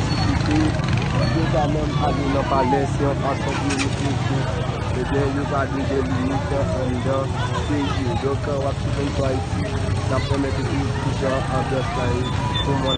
ki kite yo pa menm ale nan palè se yon fason pou yo montre ke ebyen yo pa dwe gen limit anndan peyi yo donk wap swiv M sou Ayiti nap remèt ou tou kijan anbyans la ye pou mwen.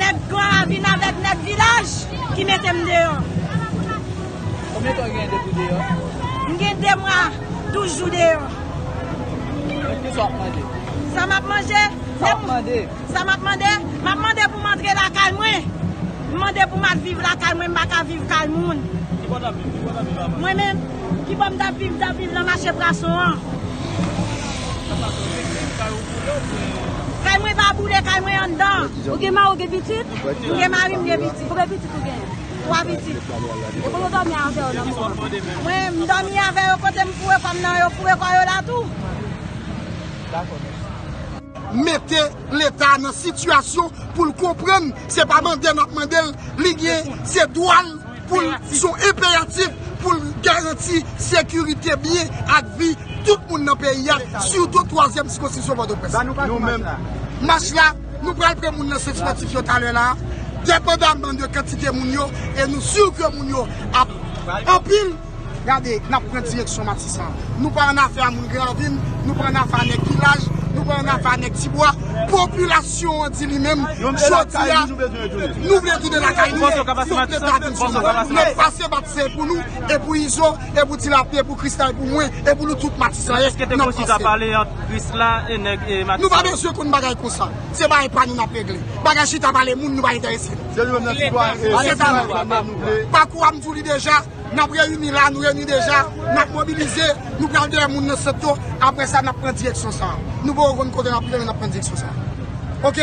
Nèg klan a vin avèk nèg vilaj ki mete m deyò. Konbyen tan ou genyen depi ou deyò? M gen 2 mwa, 12 jou deyò. Donk kisa w ap mande? Sa m ap manje? Sa w ap mande? Sa m ap mande? M ap mande pou m antre lakay mwen. M mande pou m al viv lakay mwen, m pa ka viv kay moun. Ki bò n ap viv? Ki bò n ap viv avan? Mwen menm? Ki bò m t ap viv? M t ap viv nan mache prason an. Nan prason an, gen kay ou? Kay mwen pa boule, kay mwen anndan. Ou gen mari, ou gen pitit? M gen mari, m gen pitit. Konbyen pitit ou genyen? Twa pitit. E kote w dòmi avè yo nan moman an? Mwen, m dòmi avè yo kote m foure kò m nan, yo foure kò yo la tou. Dakò, mèsi. Mete leta nan sitiyasyon pou l konprann se pa mande n ap mande l, li gen, se dwa l. Pou l son enperatif pou l garanti sekirite byen ak vi tout moun nan peyi a, sitou twazyèm sikonskripsyon Pòtoprens. Nou menm, mach la, nou pral pran moun nan sant spòtif yo talè la a, depandaman de kantite moun yo, e nou si ke moun yo ap anpil. Gade, n ap pran direksyon Matisan. Nou pa annafè a moun Granvil, nou pa annafè a nèg Vilaj, nou pa annafè a nèg Tibwa. Popilasyon an di li menm, jodi a, nou vle tounen lakay nou, nou vle ta vin sou nou. N ap pase bat se pou nou, e pou Izo, e pou Tilapli, e pou Krisla, e pou mwen, e pou nou tout Matisanyen, n ap pase. Nou pa bezwen konn bagay konsa. Se bagay pa nou n ap regle. Bagay chita pale moun nou pa enterese nou. Se ta nou. Pakou a m di w li deja. Nap reyini la, nou reyini deja, nap mobilize, nou pral dèyè moun nan soto, aprè sa nap pran direksyon sa. Nou poko konn kote nap rive men nap pran direksyon sa. Ok.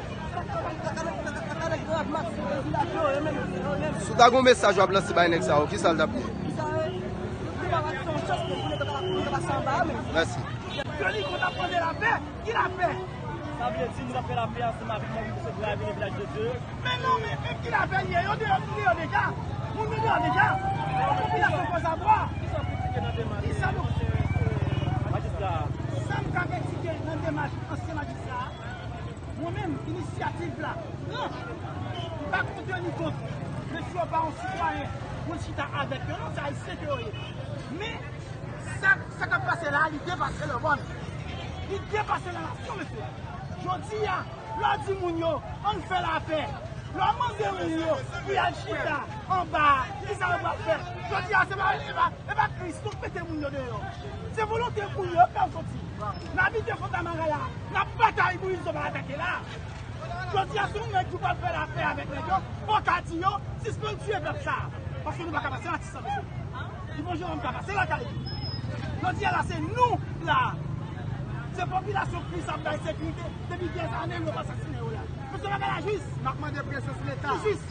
Si w ta gen yon mesaj wap lanse bay nèg sa yo, kisa l tap ye? Mèsi. Mwen menm, inisyativ la pran. M pa konte ni kont. Men si yo pa yon sitwayen pou l chita avèk yo non, se ayisyen ke yo ye. Men, sa k ap pase la a, li depase le mòn. Li depase le nasyon, mesye. Jodi a, lè w di moun yo, ann fè lapè, lè w mande moun yo pou y al chita anba a, kisa yo pral fè? Jodi a, se pa, Epa kris nou k mete moun yo deyò. Se volonte moun yo fèw soti. Nan abite fontamara la. Nan batay moise yo pa atake la. Jodia si yon nèg di w pral fè lapè avèk nèg yo fòw ta di yo sispann tiye pèp sa. Paske nou paka pase atis sa mesye. Yvon Jérôme ka pase lakay li. Jodia la se nou k la. Se popilasyon kris ap bay sekirite depi dèzane yo pa sasinen yo la. Mesye bagay la jis. Nap mande presyon sou leta. Li jis.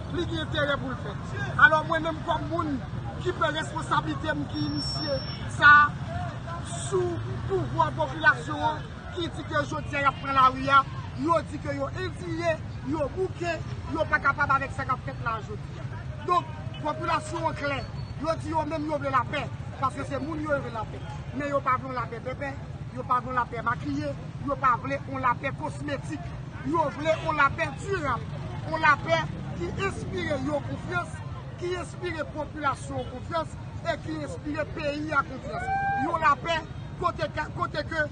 Li gen enterè pou l fèt. Alò mwen menm kòm moun ki pran responsablite m ki inisye sa a sou pouvwa popilasyon an ki di ke jodi a y ap pran lari a, yo di ke yo endiye, yo bouke, yo pa kapab avèk sa k ap fèt la a jodi a. Donk, popilasyon an klè, yo di yo menm yo vle lapè, paske se moun yo yo vle lapè. Men yo pa vle yon lapè pèpè, yo pa vle yon lapè makiye, yo pa vle yon lapè kosmetik. Yo vle yon lapè dirab, yon lapè ki enspire yo konfyans, ki enspire popilasyon an konfyans e ki enspire peyi a konfyans. Yon lapè kote ke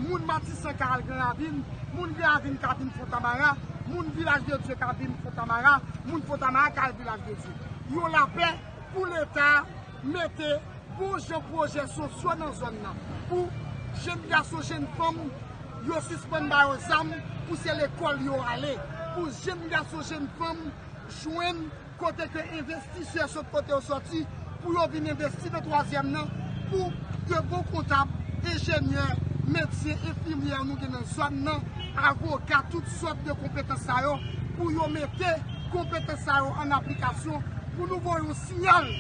moun Matisan ka al Granravin, moun Granravin ka vin Fontamara, moun Vilaj de Dye ka vin Fontamara, moun Fontamara ka al Vilaj de Dye. Yon lapè pou Leta. Mete bon jan pwojè sosyo nan zòn nan pou jenn gason, jenn fanm yo sispann ba yo zam pou se lekòl yo ale, pou jenn gason, jenn fanm jwenn kote ke envestisè sòt kote yo sòti pou yo vin envesti nan twazyèm nan pou de bon kontab, enjenyè, medsen, enfimyè nou gen nan zòn nan, avoka, tout sòt de konpetans sa yo pou yo mete konpetans sa yo an aplikasyon pou nou voye yon. siyal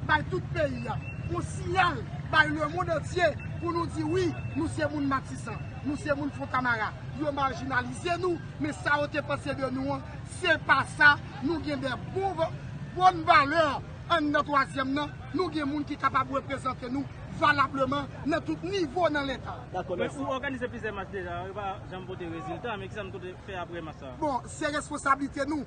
bay tout peyi a, yon siyal bay lemond antye pou nou di wi nou se moun Matisan, nou se moun Fontamara. Yo marjinalize nou, men sa yo te panse de nou an, se pa sa. Nou gen de bòn valè anndan twazyèm nan, nou gen moun ki kapab reprezante nou valableman nan tout nivo nan Leta. Men ou òganize plizyè mach deja, yo pa janm pote rezilta, men kisa nou te fè apre mach sa a? Bon, se responsablite nou.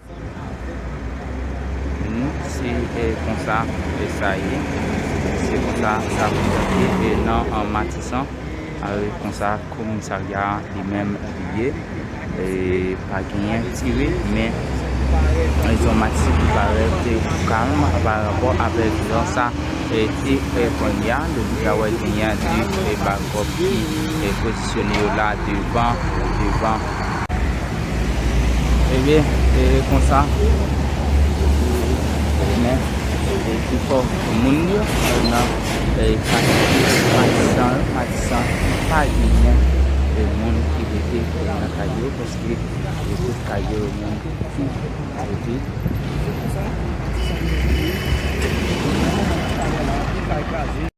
Se konsa sa ye. Se konsa sa fonksyone nan Matisan. Se konsa komisarya a li menm li ye. Pa genyen tire men zòn Matisan ki parèt kalm pa rapò avèk jan sa te ye kounye a. Nou deja wè genyen de bakòp ki pozisyone yo la devan. Ebe e konsa pou men e pifò moun yo nan e katye matisan yo matisan pa genyen e moun ki rete nan kay yo paske e tout kay yo e moun ki rete e konsa matisan yo rete e moun nan kay yo la anpil kay kraze.